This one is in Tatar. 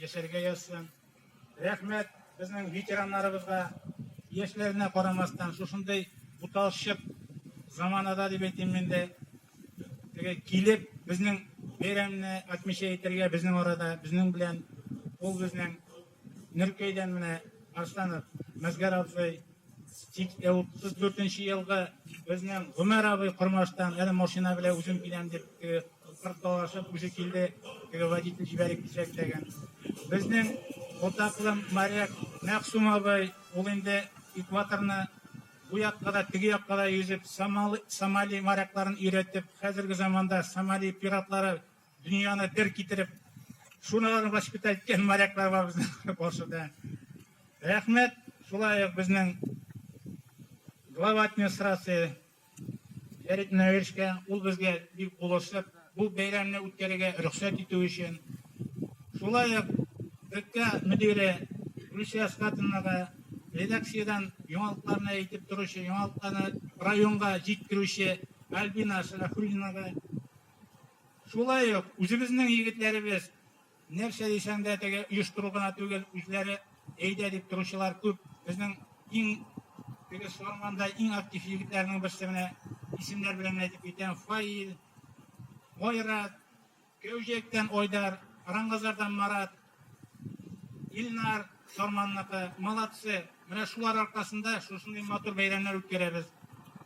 Яшәргә язсын. Рәхмәт безнең ветераннарыбызга. Яшьләренә карамастан, шушындый буталчык заманада дип әйтим мин дә, теге килеп, безнең бәйрәмне отмечай итәргә безнең арада, безнең белән. Ул безнең Нөркәйдән менә Арсланов Мәзгәр абзый Тик ә 34 нче елгы безнең Гомәр абый Кормаштан әле машина белән үзем киләм дип теге кыр талашып үзе килде. Теге водитель җибәрик дисәк тәген. Безнең Ботаклы моряк Мәгъсум абый ул инде экваторны бу якка да теге якка да йөзеп Сомали, Сомали морякларын өйрәтеп хәзерге заманда Сомали пиратлары Дөньяны бер китереп, шуналарны воспитать иткән моряклар бар безнең каршыда. Рәхмәт, шулай ук безнең глава администрации Фәрит Нәвешкә, ул безгә бик булышып, бу бәйрәмне үткәрергә рөхсәт итү өчен. Шулай ук өлкә мөдире Гөлсия Скатынага редакциядән яңалыкларны әйтеп торучы, яңалыкларны районга җиткерүче Альбина Сәләхуллинага Шулай ук үзебезнең егетләребез, нәрсә дисәң дә, теге оештыру гына түгел, үзләре әйдә дип торучылар күп. Безнең иң теге Сарманда иң актив егетләрнең берсе менә исемнәр белән әйтеп китәм. Фаил, Айрат, Кәүҗәктән Айдар, Рангазардан Марат, Илнар, Сарманныкы, молодцы. Менә шулар аркасында шушындый матур бәйрәмнәр үткәрәбез.